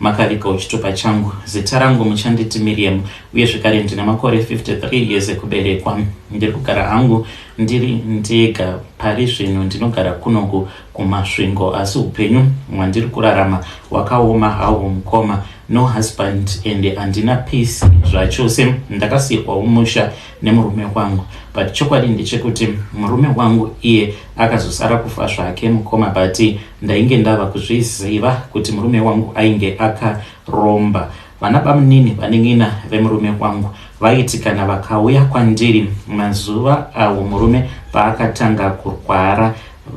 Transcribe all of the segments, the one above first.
Makariko chitupa changu. Zita rangu muchanditi Miriam uye zvekare ndine makore 53 years ekuberekwa. Ndiri kugara hangu ndiri ndega pari zvino ndinogara kunoku kuMasvingo asi upenyu hwandiri kurarama hwakaoma hawo mukoma. No husband ende handina peace zvachose. Ndakasiirwawo musha nemurume wangu but chokwadi ndechekuti murume wangu iye akazosara kufa zvake mukoma but ndainge ndava kuzviziva kuti murume wangu ainge akaromba vana bamunini vanin'ina vemurume wangu vaiti kana vakauya kwandiri mazuva awo murume paakatanga kurwara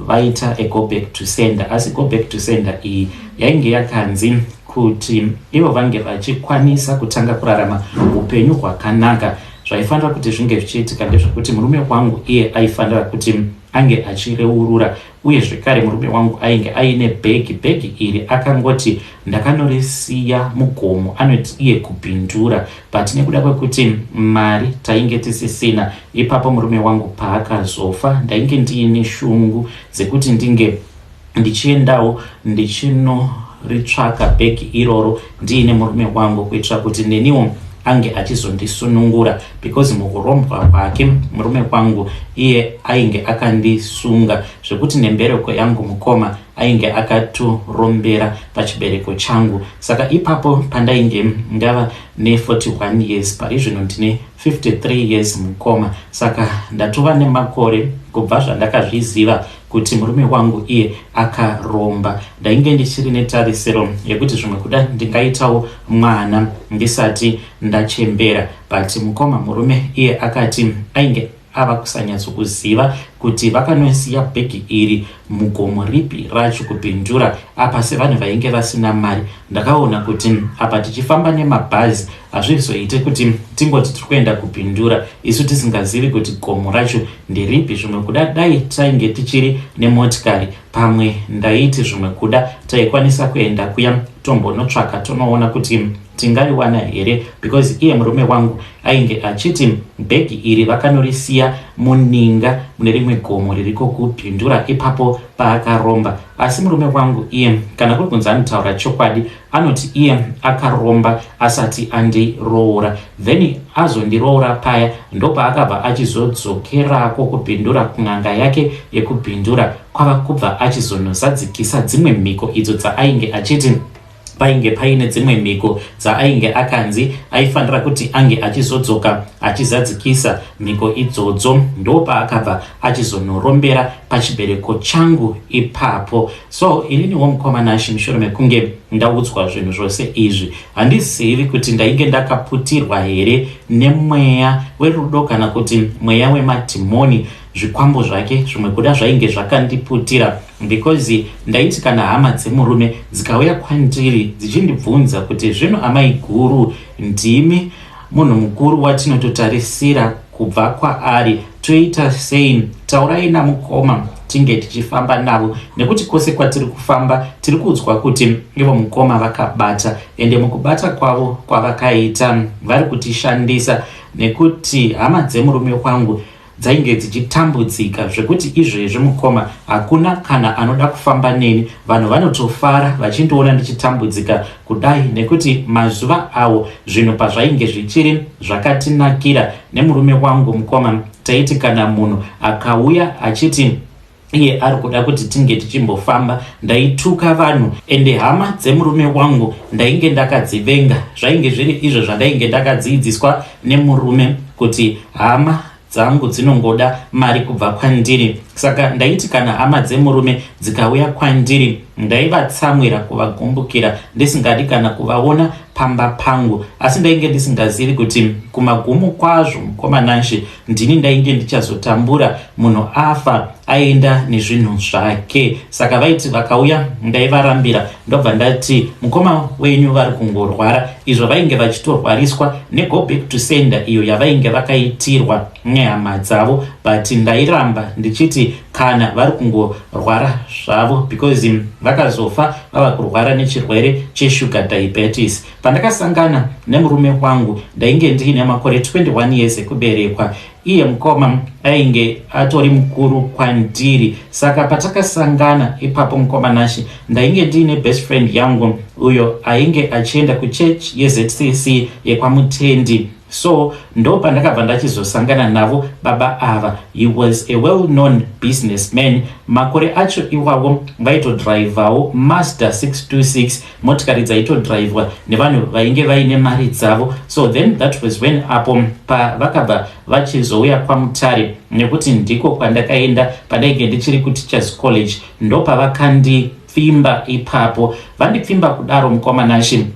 vaita a go back to sender asi go back to sender iyi yainge yakanzi kuti ivo vange vachikwanisa kutanga kurarama upenyu hwakanaka zvaifanira kuti zvinge zvichiitika ndezvekuti murume wangu iye aifanira kuti ange achireurura uye zvekare murume wangu ainge aine bhegi bhegi iri akangoti Ndakanorisiya mugomo, anoti iye Kupindura, but nekuda kwekuti mari tainge tisisina ipapo murume wangu paakazofa ndainge ndiine shungu dzekuti ndinge ndichiendawo ndichinoritsvaka bhegi iroro ndiine murume wangu kuitira kuti neniwo ange achizondisunungura because mukurombwa kwake murume kwangu iye ainge akandisunga zvekuti nembereko yangu mukoma ainge akatorombera pachibereko changu saka ipapo pandainge ndava ne41 years parizvino ndine 53 years mukoma saka ndatova nemakore kubva zvandakazviziva kuti murume wangu iye akaromba ndainge ndichiri netarisiro yekuti zvimwe kuda ndingaitawo mwana ndisati ndachembera but mukoma murume iye akati ainge ava kusanyatsokuziva kuti vakanosiya bhegi iri mugomo ripi racho kupindura apa sevanhu vainge vasina mari ndakaona kuti apa tichifamba nemabhazi hazvizoite kuti tingoti tiri kuenda kupindura isu tisingazivi kuti gomo racho nderipi zvimwe kuda dai tainge tichiri nemotikari pamwe ndaiti zvimwe kuda taikwanisa kuenda kuya tombonotsvaka tonoona kuti tingariwana here because iye murume wangu ainge achiti bhegi iri vakanorisiya muninga mune rimwe gomo ririko kupindura ipapo paakaromba asi murume wangu iye kana kuri kunzi anotaura chokwadi anoti iye akaromba asati andiroora then azondiroora paya ndopaakabva achizodzokerako kupindura kun'anga yake yekupindura kwava kubva achizonozadzikisa dzimwe mhiko idzo dzaainge achiti painge paine dzimwe mhiko dzaainge akanzi aifanira kuti ange achizodzoka achizadzikisa mhiko idzodzo ndopaakabva achizonorombera pachibereko changu ipapo so ininiwo mukoma nashe mushure mekunge ndaudzwa zvinhu zvose izvi handizivi kuti ndainge ndakaputirwa here nemweya werudo kana kuti mweya wemadhimoni zvikwambo zvake zvimwe kuda zvainge zvakandiputira because ndaiti kana hama dzemurume dzikauya kwandiri dzichindibvunza kuti zvino amai guru ndimi munhu mukuru watinototarisira kubva kwaari toita sei taurai namukoma tinge tichifamba navo nekuti kwose kwatiri kufamba tiri kuudzwa kuti ivo mukoma vakabata ende mukubata kwavo kwavakaita vari kutishandisa nekuti hama dzemurume wangu dzainge dzichitambudzika zvekuti izvezvi mukoma hakuna kana anoda kufamba neni vanhu vanotofara vachindiona ndichitambudzika kudai nekuti mazuva awo zvinhu pazvainge zvichiri zvakatinakira nemurume wangu mukoma taiti kana munhu akauya achiti iye ari kuda kuti tinge tichimbofamba ndaituka vanhu ende hama dzemurume wangu ndainge ndakadzivenga zvainge zviri izvo zvandainge ndakadziidziswa nemurume kuti hama dzangu dzinongoda mari kubva kwandiri saka ndaiti kana hama dzemurume dzikauya kwandiri ndaivatsamwira kuvagumbukira ndisingadi kana kuvaona pamba pangu asi ndainge ndisingazivi kuti kumagumo kwazvo mukomanashi ndini ndainge ndichazotambura munhu afa aenda nezvinhu zvake saka vaiti vakauya ndaivarambira ndobva ndati mukoma wenyu vari kungorwara izvo vainge vachitorwariswa nego back to sender iyo yavainge vakaitirwa nehama dzavo but ndairamba ndichiti kana vari kungorwara zvavo because vakazofa vava kurwara nechirwere cheshuga diabetes Pandakasangana nemurume wangu ndainge ndiine makore 21 years ekuberekwa. Iye mukoma ainge atori mukuru kwandiri saka patakasangana ipapo mukoma Nashi ndainge ndiine best friend yangu uyo ainge achienda kuchurch yeZCC yekwaMutendi so ndo pandakabva ndachizosangana navo baba ava he was a well known business man makore acho iwawo vaitodrivawo master 626 motikari dzaitodhiraivhwa nevanhu vainge vaine mari dzavo so then that was when apo pavakabva vachizouya kwamutare nekuti ndiko kwandakaenda pandainge ndichiri kuteachers college ndopavakandipfimba ipapo vandipfimba kudaro mukoma nashe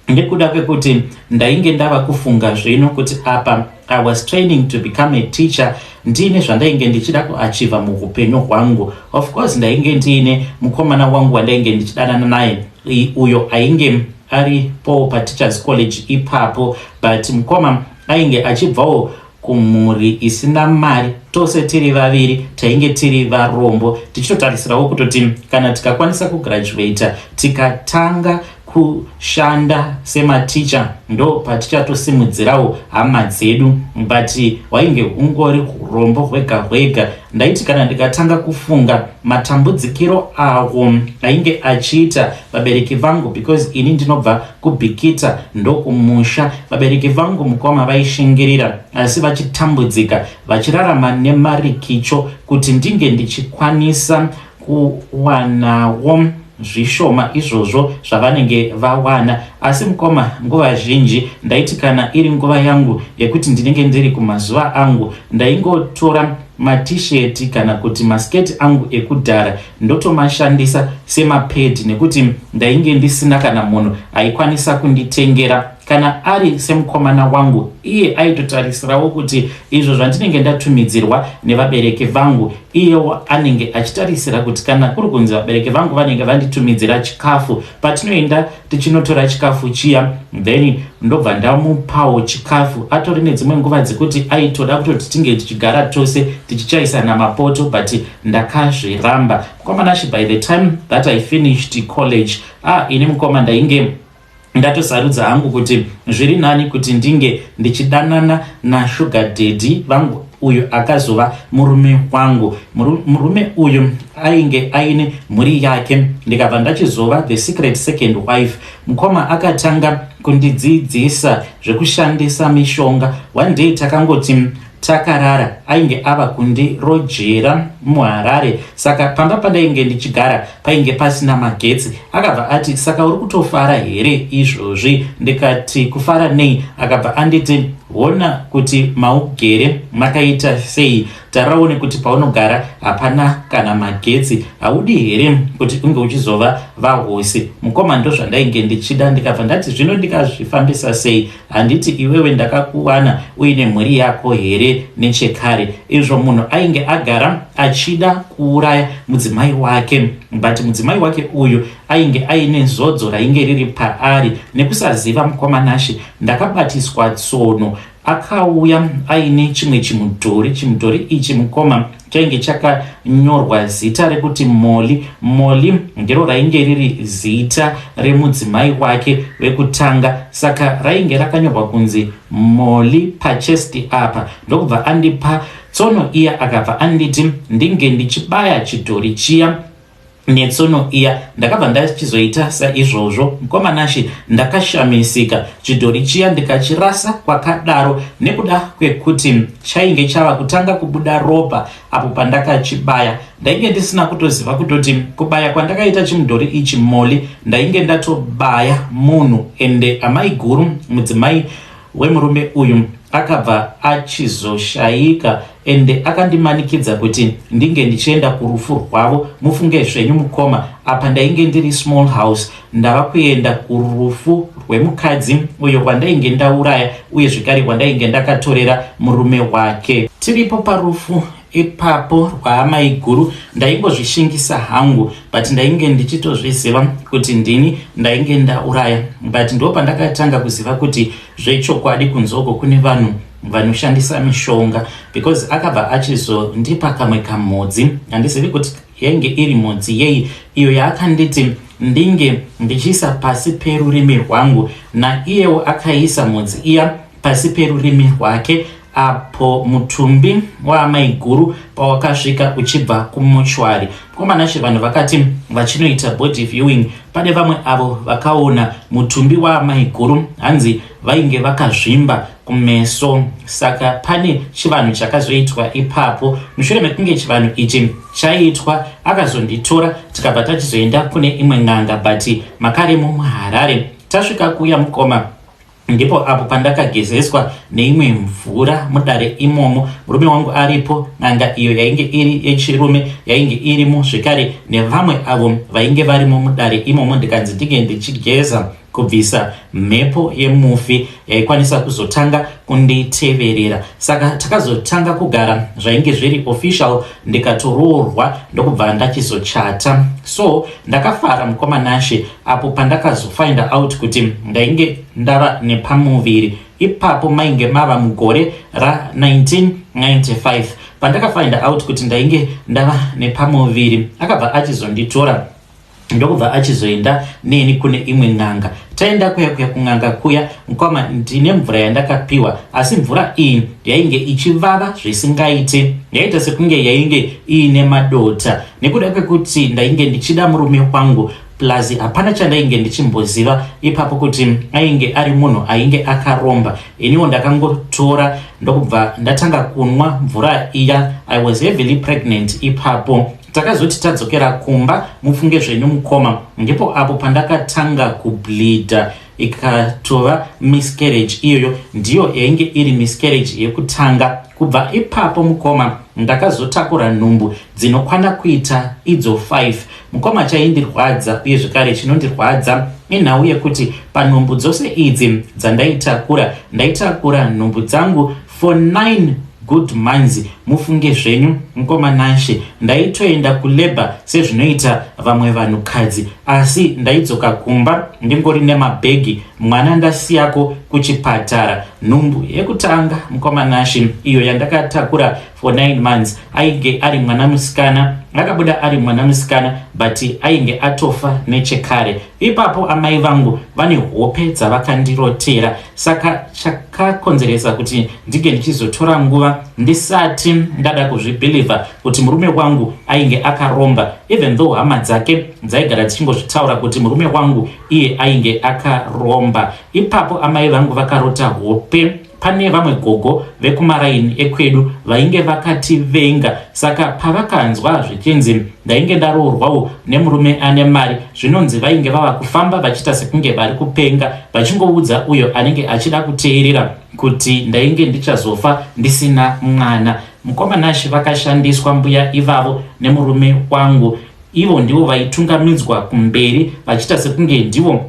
nekuda kwekuti ndainge ndava kufunga zvino kuti apa I was training to become a teacher ndiine zvandainge ndichida kuachiva muupenyu hwangu of course ndainge ndiine mukomana wangu wandainge ndichidanana naye uyo ainge ari po pateachers college ipapo but mukoma ainge achibvawo kumhuri isina mari tose tiri vaviri tainge tiri varombo tichitotarisirawo kutoti kana tikakwanisa kugraduata tikatanga kushanda sematicha ndo patichatosimudzirawo hama dzedu but hwainge hungori urombo hwega hwega ndaiti kana ndikatanga kufunga matambudzikiro awo ainge achiita vabereki vangu because ini ndinobva kubhikita ndokumusha vabereki vangu mukoma vaishingirira asi vachitambudzika vachirarama nemarikicho kuti ndinge ndichikwanisa kuwanawo zvishoma izvozvo zvavanenge vawana asi mukoma nguva zhinji ndaiti kana iri nguva yangu yekuti ndinenge ndiri kumazuva angu ndaingotora matisheti kana kuti masketi angu ekudhara ndotomashandisa semapedi nekuti ndainge ndisina kana munhu aikwanisa kunditengera kana ari semukomana wangu iye aitotarisirawo kuti izvo zvandinenge ndatumidzirwa nevabereki vangu iyewo anenge achitarisira kuti kana kuri kunzi vabereki vangu vanenge vanditumidzira chikafu patinoenda tichinotora chikafu chiya then ndobva ndamupawo chikafu atori nedzimwe nguva dzekuti aitoda kutoti tinge tichigara tose tichichaisana mapoto but ndakazviramba mukomana shi by the time that i finished college ah ini mukoma ndainge ndatosarudza hangu kuti zviri nani kuti ndinge ndichidanana nashuga dedi vangu uyo akazova murume wangu murume uyo ainge aine mhuri yake ndikabva ndachizova the secret second wife mukoma akatanga kundidzidzisa zvekushandisa mishonga one day takangoti Takarara ainge ava kundirojera muHarare saka pamba pandainge ndichigara painge pasina magetsi. Akabva ati saka uri kutofara here izvozvi? Ndikati kufara nei? Akabva anditi hona kuti maugere makaita sei, tarira uone kuti paunogara hapana kana magetsi. Haudi here kuti unge uchizova vahosi? Mukoma ndozvandainge ndichida ndikabva ndati zvino ndikazvifambisa sei? Handiti iwewe ndakakuwana uine mhuri yako here nechekare? Izvo munhu ainge agara achida kuuraya mudzimai wake but mudzimai wake uyu ainge aine zodzo rainge riri paari nekusaziva mukomanashe. Ndakabatiswa tsono akauya aine chimwe chimudhori. Chimudhori ichi mukoma chainge chakanyorwa zita rekuti Molly. Molly ndiro rainge riri zita remudzimai wake vekutanga, saka rainge rakanyorwa kunzi Molly pachesti apa. Ndokubva andipa tsono iya akabva anditi ndinge ndichibaya chidhori chiya netsono iya ndakabva ndachizoita saizvozvo mukoma nashe ndakashamisika chidhori chiya ndikachirasa kwakadaro nekuda kwekuti chainge chava kutanga kubuda ropa apo pandakachibaya ndainge ndisina kutoziva kutoti kubaya kwandakaita chimudhori ichi moli ndainge ndatobaya munhu ende amai guru mudzimai wemurume uyu akabva achizoshaika ende akandimanikidza kuti ndinge ndichienda kurufu rwavo mufunge zvenyu mukoma apa ndainge ndiri small house ndava kuenda kurufu rwemukadzi uyo kwandainge ndauraya uye zvekare kwandainge ndakatorera murume wake tiripo parufu Ipapo rwaamaiguru ndaingozvishingisa hangu but ndainge ndichitozviziva kuti ndini ndainge ndauraya but ndo pandakatanga kuziva kuti zvechokwadi kunzoko kune vanhu vanoshandisa mishonga because akabva achizondipa kamwe kamhodzi handizivi kuti yainge iri mhodzi yei iyo yaakanditi ndinge ndichiisa pasi perurimi rwangu naiyewo akaisa mhodzi iya pasi perurimi rwake apo mutumbi waamaiguru pawakasvika uchibva kumuchwari mukomana chivanhu vakati vachinoita body viewing pane vamwe avo vakaona mutumbi waamaiguru hanzi vainge vakazvimba kumeso saka pane chivanhu chakazoitwa ipapo mushure mekunge chivanhu ichi chaitwa akazonditora tikabva tachizoenda kune imwe n'anga but makaremo muharare tasvika kuya mukoma Ndipo apo pandakagezeswa neimwe mvura mudare imomo, murume wangu aripo, n'anga iyo yainge iri yechirume yainge irimo zvekare nevamwe avo vainge varimo mudare imomo ndikanzi ndinge ndichigeza kubvisa mhepo yemufi yaikwanisa kuzotanga kunditeverera saka takazotanga kugara zvainge zviri official ndikatoroorwa ndokubva ndachizochata so ndakafara mukoma nashe apo pandakazofinder out kuti ndainge ndava nepamuviri ipapo mainge mava mugore ra1995 pandakafinder out kuti ndainge ndava nepamuviri akabva achizonditora ndokubva achizoenda neni kune imwe n'anga taenda kuya kuya kun'anga kuya mukoma ndine mvura yandakapiwa asi mvura iyi yainge ichivava zvisingaite yaita sekunge yainge iine madota nekuda kwekuti ndainge ndichida murume wangu plus hapana chandainge ndichimboziva ipapo kuti ainge ari munhu ainge akaromba iniwo ndakangotora ndokubva ndatanga kunwa mvura iya i was heavily pregnant ipapo takazoti tadzokera kumba mufunge zvenyu mukoma ndipo apo pandakatanga kubleeda ikatova miscarriage iyoyo ndiyo yainge iri miscarriage yekutanga kubva ipapo mukoma ndakazotakura nhumbu dzinokwana kuita idzo 5 mukoma chaindirwadza uye zvekare chinondirwadza inhau yekuti panhumbu dzose idzi dzandaitakura ndaitakura nhumbu dzangu for 9 good months mufunge zvenyu mkoma Nashe ndaitoenda kulabor sezvinoita vamwe vanhu kadzi asi ndaidzoka kumba ndingori nemabhegi mwana ndasiyako kuchipatara nhumbu yekutanga mkoma Nashe iyo yandakatakura for 9 months ainge ari mwana musikana akabuda ari mwana musikana but ainge atofa nechekare Ipapo amai vangu vane hope dzavakandirotera, saka chakakonzeresa kuti ndinge ndichizotora nguva ndisati ndada kuzvibhilivha kuti murume wangu ainge akaromba, even though hama dzake dzaigara dzichingozvitaura kuti murume wangu iye ainge akaromba. Ipapo amai vangu vakarota hope. Pane vamwe gogo vekumaraini ekwedu vainge vakativenga saka pavakanzwa zvichinzi ndainge ndaroorwawo nemurume ane mari zvinonzi vainge vava kufamba vachiita sekunge vari kupenga vachingoudza uyo anenge achida kuteerera kuti ndainge ndichazofa ndisina mwana. Mukoma Nash vakashandiswa mbuya ivavo nemurume wangu ivo ndivo vaitungamidzwa kumberi vachiita sekunge ndivo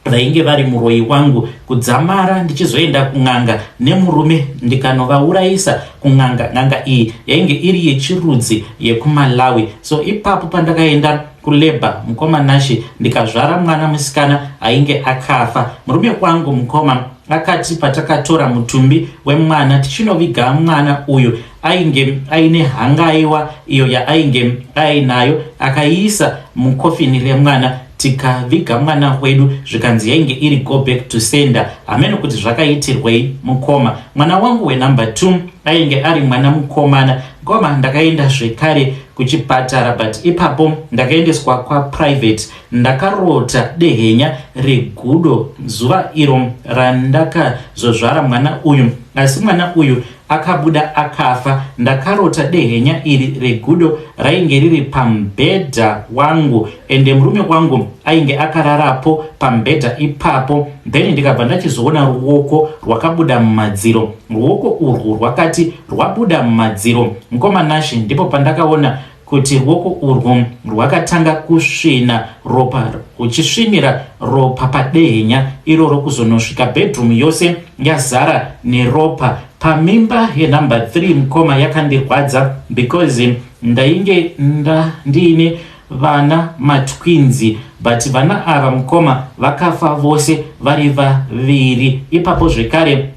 vainge vari muroyi wangu kudzamara ndichizoenda kun'anga nemurume ndikanovaurayisa kun'anga n'anga iyi yainge iri yechirudzi yekumalawi so ipapo pandakaenda kuleba mukoma nashe ndikazvara mwana musikana ainge akafa murume kwangu mukoma akati patakatora mutumbi wemwana tichinoviga mwana uyu ainge aine hangaiwa iyo yaainge ainayo akaiisa mukofini remwana tikaviga mwana wedu zvikanzi yainge iri go back to sender hameno kuti zvakaitirwei mukoma mwana wangu wenumber two ainge ari mwana mukomana ngoma ndakaenda zvekare kuchipatara but ipapo ndakaendeswa kwaprivate ndakarota dehenya regudo zuva iro randakazozvara mwana uyu asi mwana uyu Akabuda akafa ndakarota dehenya iri regudo rainge riri pambhedha wangu ende murume wangu ainge akararapo pambhedha ipapo then ndikabva ndachizoona ruoko rwakabuda mumadziro ruoko urwu rwakati rwabuda mumadziro mkoma Nashe ndipo pandakaona kuti ruoko urwo rwakatanga kusvina ropa uchisvinira ropa padehenya iroro kuzonosvika bedroom yose yazara neropa pamimba yenumber 3 mukoma yakandirwadza because ndainge nda ndiine vana matwinzi but vana ava mukoma vakafa vose vari vaviri ipapo zvekare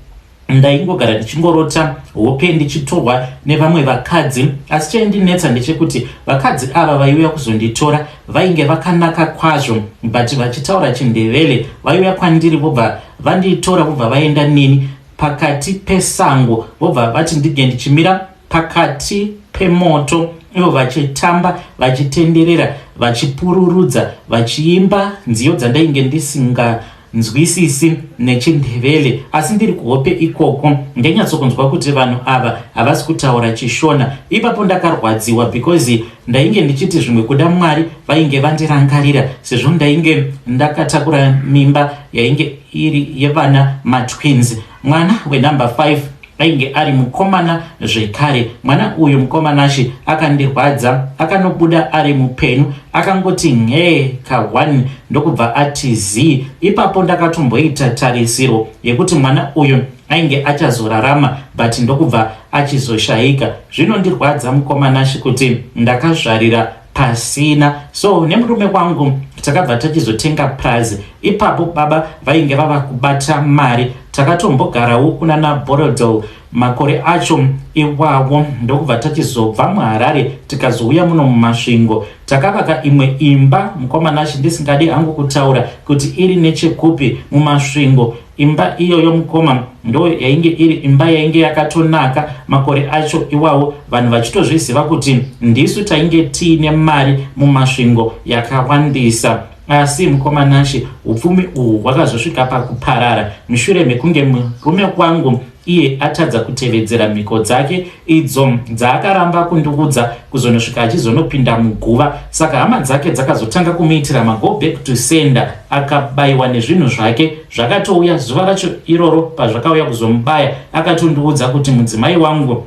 Ndaingogara ndichingorota hope ndichitorwa nevamwe vakadzi asi chaindinetsa ndechekuti vakadzi ava vaiuya kuzonditora vainge vakanaka kwazvo but vachitaura chindevele vaiuya kwandiri vobva vanditora vobva vaenda neni pakati pesango vobva vati ndinge ndichimira pakati pemoto ivo vachitamba vachitenderera vachipururudza vachiimba nziyo dzandainge ndisinga nzwisisi nechindevele asi ndiri kuhope ikoko ndanyatsokunzwa kuti vanhu ava havasi kutaura chishona ipapo ndakarwadziwa because ndainge ndichiti zvimwe kuda mwari vainge vandirangarira sezvo ndainge ndakatakura mimba yainge iri yevana matwins Mwana wenumber 5 ainge ari mukomana zvekare. Mwana uyu mukomanashe akandirwadza, akanobuda ari mupenyu, akangoti nhee kahwani ndokubva ati zii. Ipapo ndakatomboita tarisiro yekuti mwana uyu ainge achazorarama but ndokubva achizoshaika. Zvinondirwadza mukomanashe kuti ndakazvarira pasina so nemurume wangu takabva tachizotenga purazi ipapo baba vainge vava kubata mari takatombogarawo kuna naborodol makore acho iwawo ndokubva tachizobva muharare tikazouya muno mumasvingo takavaka imwe imba mukomana achindisingadi hangu kutaura kuti iri nechekupi mumasvingo Imba iyoyo mukoma ndo yainge iri imba yainge yakatonaka makore acho iwawo vanhu vachitozviziva kuti ndisu tainge tiine mari mumasvingo yakawandisa asi mukoma Nashe upfumi uhwu hwakazosvika pakuparara mushure mekunge murume wangu iye atadza kutevedzera mhiko dzake idzo dzaakaramba kundiudza kuzonosvika achizonopinda muguva saka hama dzake dzakazotanga kumuitira mago back to sender akabayiwa nezvinhu zvake zvakatouya zuva racho iroro pazvakauya kuzomubaya akatondiudza kuti mudzimai wangu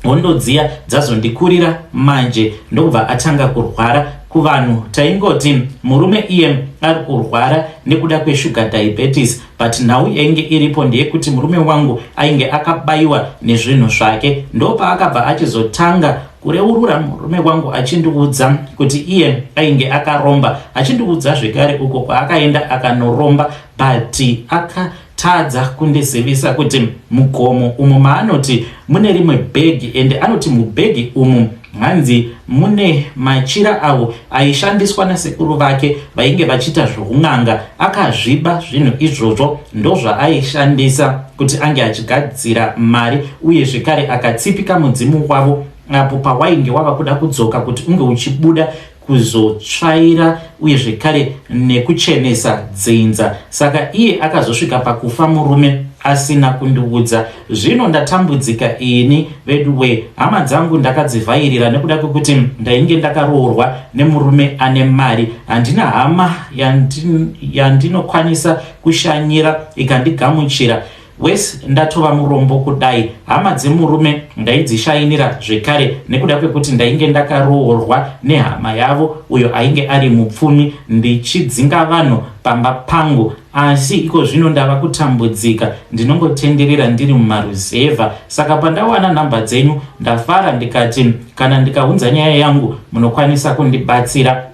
Hondo dziya dzazondikurira manje ndokubva atanga kurwara kuvanhu taingoti murume iye ari kurwara nekuda kweshuga diabetes but nhau yainge iripo ndeyekuti murume wangu ainge akabayiwa nezvinhu zvake ndopaakabva achizotanga kureurura murume wangu achindiudza kuti iye ainge akaromba achindiudza zvekare uko kwaakaenda akanoromba but aka Tadza kundizivisa kuti mugomo umu maanoti mune rimwe bhegi ende anoti mubhegi umu hanzi mune machira avo aishandiswa nasekuru vake vainge vachiita zvoun'anga akazviba zvinhu izvozvo ndozvaaishandisa kuti ange achigadzira mari uye zvekare akatsipika mudzimu wavo apo pawainge wava kuda kudzoka kuti unge uchibuda kuzotsvaira uye zvekare nekuchenesa dzinza saka iye akazosvika pakufa murume asina kundiudza zvino ndatambudzika ini veduwe hama dzangu ndakadzivhairira nekuda kwekuti ndainge ndakaroorwa nemurume ane mari handina hama yandinokwanisa kushanyira ikandigamuchira Worse ndatova murombo kudai hama dzemurume ndaidzishainira zvekare nekuda kwekuti ndainge ndakaroorwa nehama yavo uyo ainge ari mupfumi ndichidzinga vanhu pamba pangu asi iko zvino ndava kutambudzika ndinongotenderera ndiri mumaruzevha saka pandawana nhamba dzenyu ndafara ndikati kana ndikaunza nyaya yangu munokwanisa kundibatsira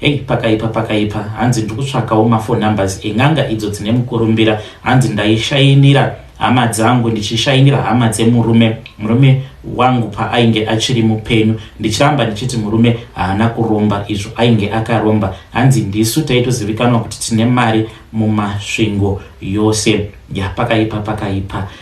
Hey, pakaipa pakaipa hanzi ndikutsvakawo mafo numbers en'anga idzo dzine mukurumbira hanzi ndaishainira hama dzangu ndichishainira hama dzemurume murume wangu paainge achiri mupenyu ndichiramba ndichiti murume haana kuromba izvo ainge akaromba hanzi ndisu taitozivikanwa kuti tine mari mumasvingo yose yapakaipa pakaipa